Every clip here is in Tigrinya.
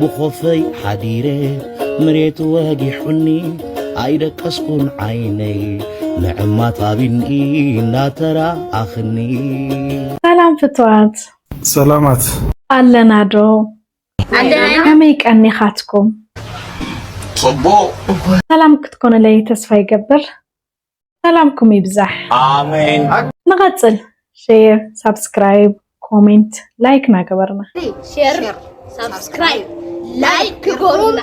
ብኾፈይ ሓዲረ መሬት ወጊሑኒ ኣይደቀስኩን ዓይነይ ንዕማት ኣብኒ እናተራኣኽኒ ሰላም ፍትዋት ሰላማት ኣለና ዶ ከመይ ቀኒኻትኩም ሰላም ክትኮኑለይ ተስፋ ይገብር ሰላምኩም ይብዛሕ ንቐፅል ሼር ሳብስክራይብ ኮሜንት ላይክ ናገበርና ሼር ሳብስክራይብ ላይክ ክገብሩና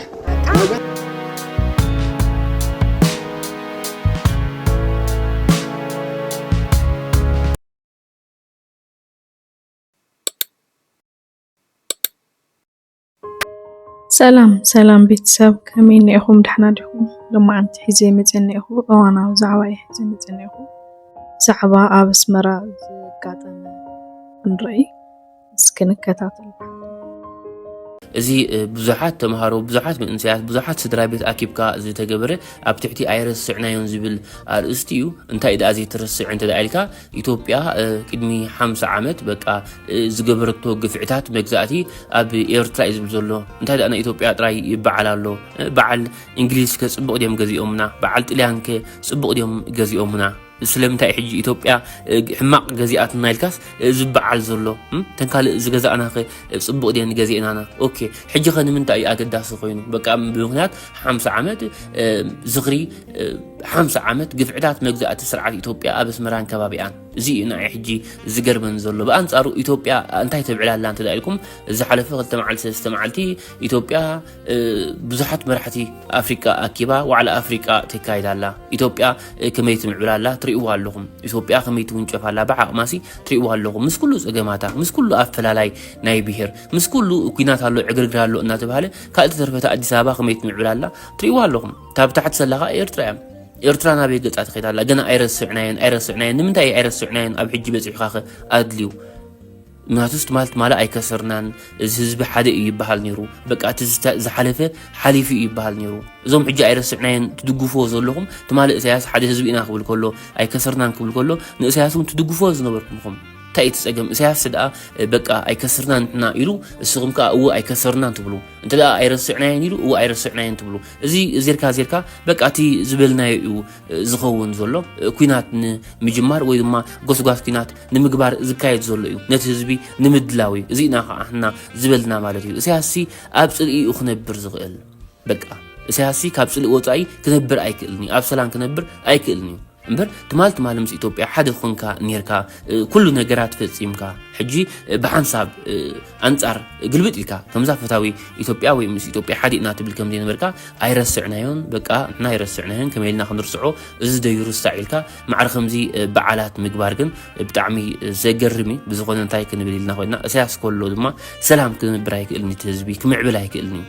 ሰላም ሰላም ቤተሰብ ከመይ እኒኤኹም ዳሕና ዲኹም? ሎማዓንቲ ሒዘ መፀ እኒኤኹ እዋናዊ ዛዕባ እየ ሒዘ መፀ እኒኤኹ ዛዕባ ኣብ ኣስመራ ዘጋጠመ ክንርኢ እስኪ ንከታተል። እዚ ብዙሓት ተምሃሮ ብዙሓት መንእሰያት ብዙሓት ስድራ ቤት ኣኪብካ ዝተገበረ ኣብ ትሕቲ ኣይረስዕናዮን ዝብል ኣርእስቲ እዩ እንታይ ደኣ ዘይትርስዕ እንተ ኢልካ ኢትዮጵያ ቅድሚ ሓምሳ ዓመት በቃ ዝገበረቶ ግፍዕታት መግዛእቲ ኣብ ኤርትራ እዩ ዝብል ዘሎ እንታይ ደኣ ናይ ኢትዮጵያ ጥራይ ይበዓል ኣሎ በዓል እንግሊዝ ከ ጽቡቕ ድዮም ገዚኦምና በዓል ጥልያን ከ ጽቡቕ ድዮም ገዚኦምና ስለምንታይ ሕጂ ኢትዮጵያ ሕማቕ ገዚኣትና ኢልካስ ዝበዓል ዘሎ ተን ካልእ ዝገዛእና ኸ ፅቡቕ ድየን ገዚእናና ኦኬ ሕጂ ኸ ንምንታይ እዩ ኣገዳሲ ኮይኑ በቃ ብምክንያት ሓምሳ ዓመት ዝኽሪ ሓምሳ ዓመት ግፍዕታት መግዛእቲ ስርዓት ኢትዮጵያ ኣብ ኣስመራን ከባቢኣን እዚ እዩ ንኣይ ሕጂ ዝገርመን ዘሎ ብኣንጻሩ ኢትዮጵያ እንታይ ተብዕል ኣላ እንተ ኢልኩም ዝሓለፈ ክልተ መዓልቲ ሰለስተ መዓልቲ ኢትዮጵያ ብዙሓት መራሕቲ ኣፍሪቃ ኣኪባ ዋዕላ ኣፍሪቃ ተካይድ ኣላ ኢትዮጵያ ከመይ ትምዕብል ኣላ ትርእይዎ ኣለኹም ኢትዮጵያ ከመይ ትውንጨፍ ኣላ ብዓቕማሲ ትርእይዎ ኣለኹም ምስ ኩሉ ጸገማታ ምስ ኩሉ ኣፈላላይ ናይ ብሄር ምስ ኩሉ ኩናት ኣሎ ዕግርግር ኣሎ እናተባሃለ ካልእ ተርፈታ ኣዲስ ኣበባ ከመይ ትምዕብል ኣላ ትርእይዎ ኣለኹም ካብ ታሕቲ ዘለኻ ኤርትራ እዮም ኤርትራ ናበይ ገጻ ትኸይድ ኣላ ገና ኣይረስዕናየን ኣይረስዕናየን ንምንታይ ኣይረስዕናየን ኣብ ሕጂ በፂሑካ ኸ ኣድልዩ ምክንያቱስ ትማል ትማል ኣይከሰርናን እዚ ህዝቢ ሓደ እዩ ይበሃል ነይሩ በቃ እቲ ዝሓለፈ ሓሊፉ እዩ ይበሃል ነይሩ እዞም ሕጂ ኣይረስዕናየን ትድግፍዎ ዘለኹም ትማል እሳያስ ሓደ ህዝቢ ኢና ክብል ከሎ ኣይከሰርናን ክብል ከሎ ንእሳያስ እውን ትድግፍዎ ዝነበርኩም ኹም እንታይ እቲ ፀገም እሳያስ ደኣ በቃ ኣይከስርናን ንሕና ኢሉ እስኹም ከዓ እወ ኣይከሰርናን ትብሉ እንተ ኣይረስዕናየን ኢሉ እወ ኣይረስዕናየን ትብሉ እዚ ዜርካ ዜርካ በቃ እቲ ዝበልናዮ እዩ ዝኸውን ዘሎ ኩናት ንምጅማር ወይ ድማ ጎስጓስ ኩናት ንምግባር ዝካየድ ዘሎ እዩ ነቲ ህዝቢ ንምድላው እዩ እዚ ኢና ከዓ ሕና ዝበልና ማለት እዩ እሳያስሲ ኣብ ፅልኢ እዩ ክነብር ዝኽእል በቃ እሳያስሲ ካብ ፅልኢ ወፃኢ ክነብር ኣይክእልን እዩ ኣብ ሰላም ክነብር ኣይክእልን እዩ እምበር ትማል ትማል ምስ ኢትዮጵያ ሓደ ኮንካ ኔርካ ኩሉ ነገራት ፈጺምካ ሕጂ ብሓንሳብ ኣንጻር ግልብጥ ኢልካ ከምዛ ፈታዊ ኢትዮጵያ ወይ ምስ ኢትዮጵያ ሓደ ኢና ትብል ከም ዘይነበርካ ኣይረስዕናዮን በቃ ንሕና ኣይረስዕናዮን ከመይ ኢልና ክንርስዖ እዚ ደዩ ርሳዕ ኢልካ ማዕረ ከምዚ በዓላት ምግባር ግን ብጣዕሚ ዘገርም እዩ ብዝኾነ እንታይ ክንብል ኢልና ኮይና እሳያስ ከሎ ድማ ሰላም ክንብር ኣይክእልን እቲ ህዝቢ ክምዕብል ኣይክእልን እዩ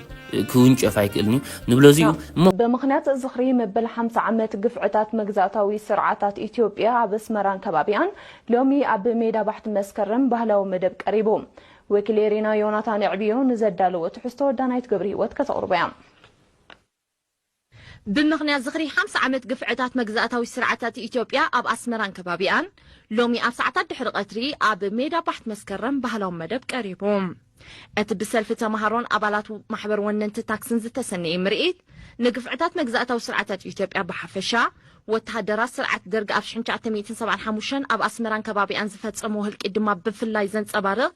ክውንጨፍ ኣይክእልን'ዩ ንብሎ እዚ'ዩ እሞ። ብምኽንያት ዝኽሪ መበል ሓምሳ ዓመት ግፍዕታት መግዛእታዊ ስርዓታት ኢትዮጵያ ኣብ ኣስመራን ከባቢኣን ሎሚ ኣብ ሜዳ ባሕቲ መስከረም ባህላዊ መደብ ቀሪቡ። ወኪል ኤሪና ዮናታን ኣዕብዮ ንዘዳለዎ ትሕዝቶ ዳናይት ገብርሂወት ከተቕርቦ'ያ። ብምኽንያት ዝኽሪ ሓምሳ ዓመት ግፍዕታት መግዛእታዊ ስርዓታት ኢትዮጵያ ኣብ ኣስመራን ከባቢኣን ሎሚ ኣብ ሰዓታት ድሕሪ ቀትሪ ኣብ ሜዳ ባሕት መስከረም ባህላዊ መደብ ቀሪቡ። እቲ ብሰልፊ ተማሃሮን ኣባላት ማሕበር ወነንቲ ታክስን ዝተሰነየ ምርኢት ንግፍዕታት መግዛእታዊ ስርዓታት ኢትዮጵያ ብሓፈሻ፣ ወተሃደራት ስርዓት ደርግ ኣብ ሽሕን ትሽዓተ ሚእትን ሰብዓን ሓሙሽተን ኣብ ኣስመራን ከባቢኣን ዝፈጸምዎ ህልቂት ድማ ብፍላይ ዘንጸባርቕ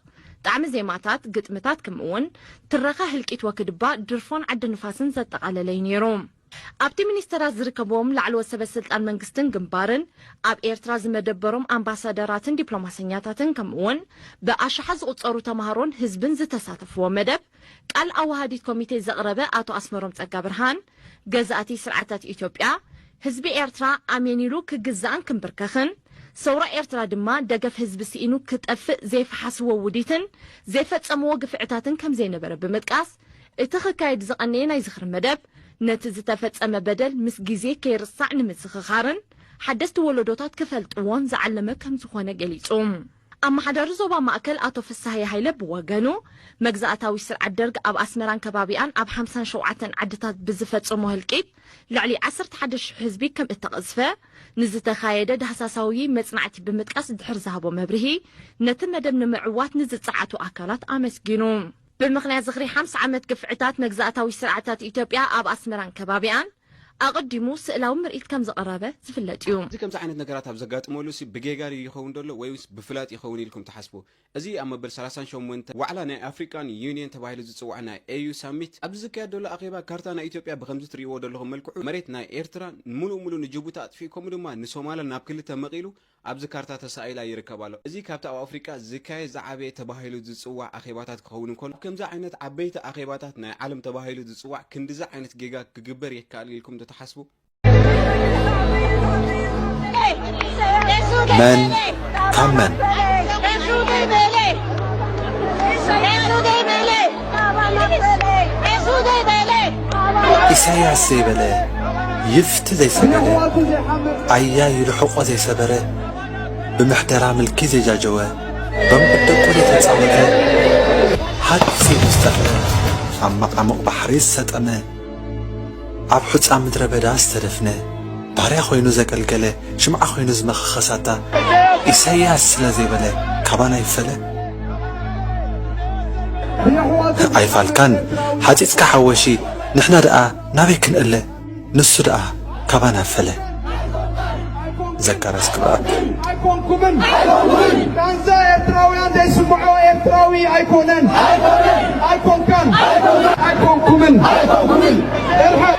ጣዕሚ ዜማታት፣ ግጥምታት ክምእውን ትረኻ ህልቂት ወክድባ ድርፎን ዓዲ ንፋስን ዘጠቓለለ'ዩ ነይሩ። ኣብቲ ሚኒስተራት ዝርከብዎም ላዕለዎት ሰበ ስልጣን መንግስትን ግንባርን፣ ኣብ ኤርትራ ዝመደበሮም ኣምባሳደራትን ዲፕሎማሰኛታትን ከምእውን ብኣሽሓት ዝቑጸሩ ተማሃሮን ህዝብን ዝተሳተፍዎ መደብ፣ ቃል ኣወሃዲት ኮሚቴ ዘቕረበ ኣቶ ኣስመሮም ጸጋብርሃን፣ ገዛእቲ ስርዓታት ኢትዮጵያ፣ ህዝቢ ኤርትራ ኣሜን ኢሉ ክግዛእን ክምብርከኽን፣ ሰውራ ኤርትራ ድማ ደገፍ ህዝቢ ስኢኑ ክጠፍእ ዘይፈሓስዎ ውዲትን ዘይፈጸምዎ ግፍዕታትን ከምዘይነበረ ብምጥቃስ፣ እቲ ክካየድ ዝቐነየ ናይ ዝኽሪ መደብ፣ ነቲ ዝተፈጸመ በደል ምስ ግዜ ከይርሳዕ ንምዝኽኻርን ሓደስቲ ወለዶታት ክፈልጥዎን ዝዓለመ ከምዝኾነ ገሊጹ። ኣመሓዳሪ ዞባ ማእከል ኣቶ ፍስሃየ ሃይለ ብወገኑ፣ መግዛእታዊ ስርዓት ደርግ ኣብ ኣስመራን ከባቢኣን ኣብ ሓምሳን ሸውዓተን ዓድታት ብዝፈጸሞ ህልቂት ልዕሊ ዓሰርተ ሓደ ሽሕ ህዝቢ ከም እተቐዝፈ ንዝተኻየደ ዳህሳሳውይ መጽናዕቲ ብምጥቃስ ድሕሪ ዝሃቦ መብርሂ ነቲ መደብ ንምዕዋት ንዝጸዓቱ ኣካላት ኣመስጊኑ። ብምኽንያት ዝኽሪ ሓምሳ ዓመት ግፍዕታት መግዛእታዊ ስርዓታት ኢትዮጵያ ኣብ ኣስመራን ከባቢኣን፣ ኣቐዲሙ ስእላዊ ምርኢት ከም ዘቕረበ ዝፍለጥ እዩ። እዚ ከምዚ ዓይነት ነገራት ኣብ ዘጋጥመሉ ሲ ብጌጋ ድዩ ይኸውን ዘሎ ወይስ ብፍላጥ ይኸውን ኢልኩም ትሓስቡ? እዚ ኣብ መበል ሰላሳን ሸሞንተን ዋዕላ ናይ ኣፍሪቃን ዩንየን ተባሂሉ ዝጽዋዕ ናይ ኤዩ ሳሚት ኣብዚ ዝካየድ ዘሎ ኣኼባ ካርታ ናይ ኢትዮጵያ ብኸምዚ ትርእይዎ ደለኹም መልክዑ መሬት ናይ ኤርትራ ሙሉእ ሙሉእ ንጅቡቲ ኣጥፊኡ ከምኡ ድማ ንሶማላ ናብ ክልተ መቒሉ ኣብዚ ካርታ ተሳኢላ ይርከብ ኣሎ። እዚ ካብቲ ኣብ ኣፍሪቃ ዝካየድ ዝዓበየ ተባሂሉ ዝጽዋዕ ኣኼባታት ክኸውን እንከሎ፣ ኣብ ከምዚ ዓይነት ዓበይቲ ኣኼባታት ናይ ዓለም ተባሂሉ ዝጽዋዕ ክንድዚ ዓይነት ጌጋ ክግበር የካእል ኢልኩም ዶ ትሓስቡ? መን ካብ መን? ኢሳያስ ዘይበለ ይፍቲ ዘይሰገደ ኣያይ ይርሕቆ ዘይሰበረ ብምሕደራ ምልኪ ዘይጃጀወ በምዑት ደቁ ዘይተጻወተ ሃጽ ኢሉ ዝጠፍረ ኣብ መቓሙቕ ባሕሪ ዝሰጠመ ኣብ ሑጻ ምድረ በዳ ዝተደፍነ፣ ባርያ ኮይኑ ዘገልገለ፣ ሽምዓ ኮይኑ ዝመኸኸ ሳታ ኢሰያስ ስለ ዘይበለ ካባና ይፈለ? ኣይፋልካን ሓጺጽካ ሓወሺ ንሕና ደኣ ናበይ ክንእለ ንሱ ደኣ ካባና ፈለ ዘካርያስ ክብርኣብ ኣይኮንኩምን ቃንዛ ኤርትራውያን ዘይስምዖ ኤርትራዊ ኣይኮነን ኣይኮንካን ኣይኮንኩምን እርሕቕ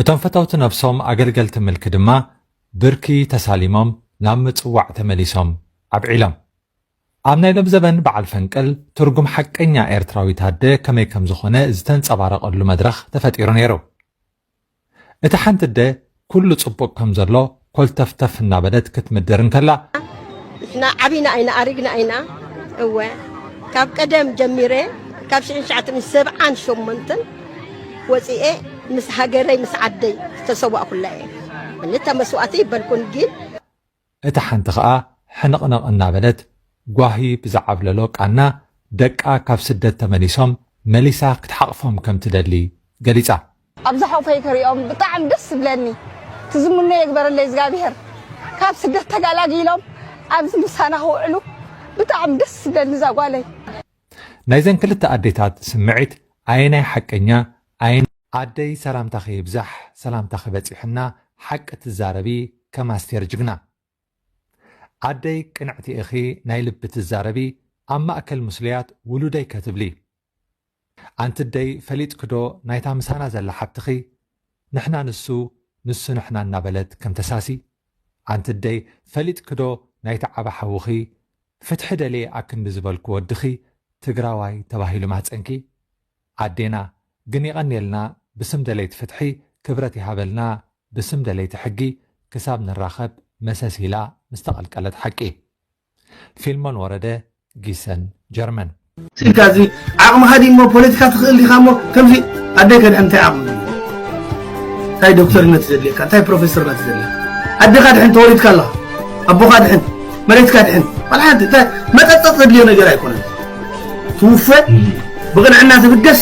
እቶም ፈተውቲ ነብሶም ኣገልገልቲ ምልኪ ድማ ብርኪ ተሳሊሞም ናብ ምጽዋዕ ተመሊሶም ኣብዒሎም። ኣብ ናይ ሎም ዘበን በዓል ፈንቅል ትርጉም ሓቀኛ ኤርትራዊት ኣደ ከመይ ከም ዝኾነ ዝተንጸባረቐሉ መድረኽ ተፈጢሩ ነይሩ። እቲ ሓንቲ ኣደ ኩሉ ጽቡቕ ከም ዘሎ፣ ኮልተፍተፍ እናበለት ክትምድር እንከላ። ንሕና ዓቢና ኣይና ኣሪግና ኣይና እወ ካብ ቀደም ጀሚረ ካብ ሽሕን ትሽዓትን ሰብዓን ሸሞንትን ወፂኤ ምስ ሃገረይ ምስ ዓደይ ዝተሰዋእኩላ እየ ክልተ መስዋእቲ ይበልኩን ግን እታ ሓንቲ ኸኣ ሕንቕንቕ እናበለት ጓሂ ብዝዓብለሎ ቃና ደቃ ካብ ስደት ተመሊሶም መሊሳ ክትሓቕፎም ከምትደሊ ገሊጻ። ኣብዛ ሓውፈይ ክሪኦም ብጣዕሚ ደስ ዝብለኒ ትዝምኖ የግበረለይ እዝጋብሄር ካብ ስደት ተጋላጊሎም ኣብዚ ምሳና ክውዕሉ ብጣዕሚ ደስ ዝብለኒ እዛ ጓለይ። ናይዘን ክልተ ኣዴታት ስምዒት ኣየናይ ሓቀኛ ኣየናይ። ኣደይ ሰላምታኺ ይብዛሕ ሰላምታኺ በፂሑና ሓቂ ትዛረቢ ከም ኣስቴር ጅግና ኣደይ ቅንዕቲ ኢኺ ናይ ልቢ ትዛረቢ ኣብ ማእከል ምስሉያት ውሉደይ ከትብሊ ኣንቲ ደይ ፈሊጥኪ ዶ ናይታ ምሳና ዘላ ሓብትኺ ንሕና ንሱ ንሱ ንሕና እናበለት ከም ተሳሲ ኣንቲ ደይ ፈሊጥኪ ዶ ናይቲ ዓቢ ሓውኺ ፍትሒ ደልየ ኣክንዲ ዝበልኩ ወድኺ ትግራዋይ ተባሂሉ ማህጸንኪ ኣዴና ግን የቀንየልና ብስም ደለይቲ ፍትሒ ክብረት ይሃበልና ብስም ደለይቲ ሕጊ ክሳብ ንራኸብ መሰስ ኢላ ምስ ተቀልቀለት ሓቂ ፊልሞን ወረደ ጊሰን ጀርመን። ስኢልካ እዚ ዓቅምካ ድዩ እሞ ፖለቲካ ትክእል ዲካ እሞ ከምዚ ኣደይ ከድሕን እንታይ ዓቅሚ ድልዎ እንታይ ዶክተርነት ዘድልየካ እንታይ ፕሮፌሰርነት ዘድልየካ ኣደካ ድሕን ተወሊድካ ኣለካ ኣቦካ ድሕን መሬትካ ድሕን ዋላ ሓንቲ እንታይ መጠጠጥ ዘድልዮ ነገር ኣይኮነን ትውፈ ብቅንዕና ትብገስ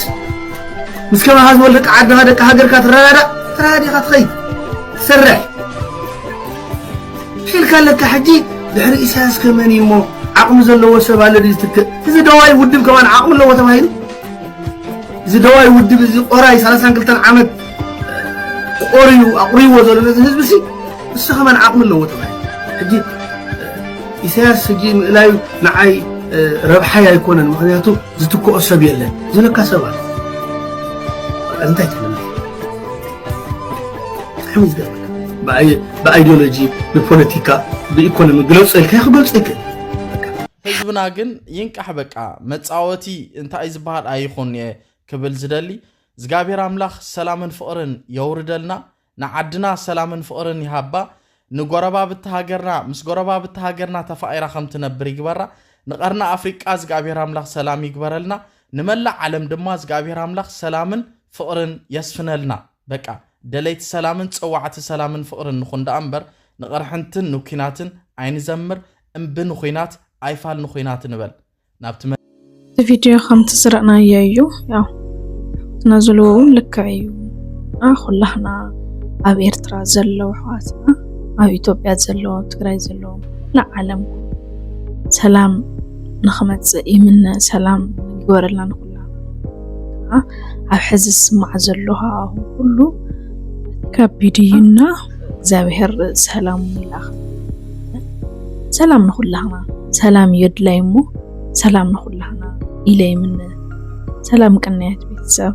ምስ ከማካ ዝበሉ ደቂ ዓድካ ደቂ ሃገርካ ትረዳዳእ ተረዳዲካ ትኸይድ ትሰርሕ ሒልካ ኣለካ ሕጂ ድሕሪ ኢሳያስ ከ መን እዩ እሞ ዓቅሚ ዘለዎ ሰብ ኣሎ ድዩ ዝትክእ እዚ ደዋይ ውድብ ከማን ዓቅሚ ኣለዎ ተባሂሉ እዚ ደዋይ ውድብ እዚ ቆራይ ሰላሳን ክልተን ዓመት ቆርዩ ኣቑርይዎ ዘሎ ነዚ ህዝቢ ሲ ንሱ ከማን ዓቕሚ ኣለዎ ተባሂሉ ሕጂ ኢሳያስ ሕጂ ምእላዩ ንዓይ ረብሓይ ኣይኮነን ምክንያቱ ዝትክኦ ሰብ የለን ዝለካ ሰብ ኣሎ እንታይ ትብል ብጣዕሚ ዝገርም ብኣይዲዮሎጂ ብፖለቲካ ብኢኮኖሚ ግለፆ ኢልካ ክገልፆ ይክእል ህዝብና ግን ይንቃሕ በቃ መፃወቲ እንታይ ዝበሃል ኣይኹን እየ ክብል ዝደሊ እግዚኣብሔር ኣምላኽ ሰላምን ፍቕርን የውርደልና ንዓድና ሰላምን ፍቕርን ይሃባ ንጎረባብቲ ሃገርና ምስ ጎረባብቲ ሃገርና ተፋኢራ ከም ትነብር ይግበራ ንቐርና ኣፍሪቃ እግዚኣብሔር ኣምላኽ ሰላም ይግበረልና ንመላእ ዓለም ድማ እግዚኣብሔር ኣምላኽ ሰላምን ፍቕርን የስፍነልና በቃ ደለይቲ ሰላምን ጸዋዕቲ ሰላምን ፍቕርን ንኹን ደኣ እምበር ንቕርሕንትን ንኲናትን ኣይንዘምር እምቢ ንኹናት ኣይፋል ንኹናት ንበል ናብቲ እቲ ቪድዮ ከምቲ ዝረእናዮ እዩ ያው ኣሕዋትና ዝልዎ እውን ልክዕ እዩ እና ኩላህና ኣብ ኤርትራ ዘለዉ ኣሕዋትና ኣብ ኢትዮጵያ ዘለዉ ኣብ ትግራይ ዘለዉ ኩላ ዓለም ሰላም ንክመፅእ ይምነ ሰላም ይግበረልና ኣብ ሕዚ ዝስማዕ ዘሎ ሃዋህው ኩሉ ከቢድ እዩ እና እግዚኣብሔር ሰላሙ ይላኽ። ሰላም ንኹላህና ሰላም እዩ ኣድላይ እሞ ሰላም ንኹላህና ኢለ ይምነ። ሰላም ቅንያት ቤተሰብ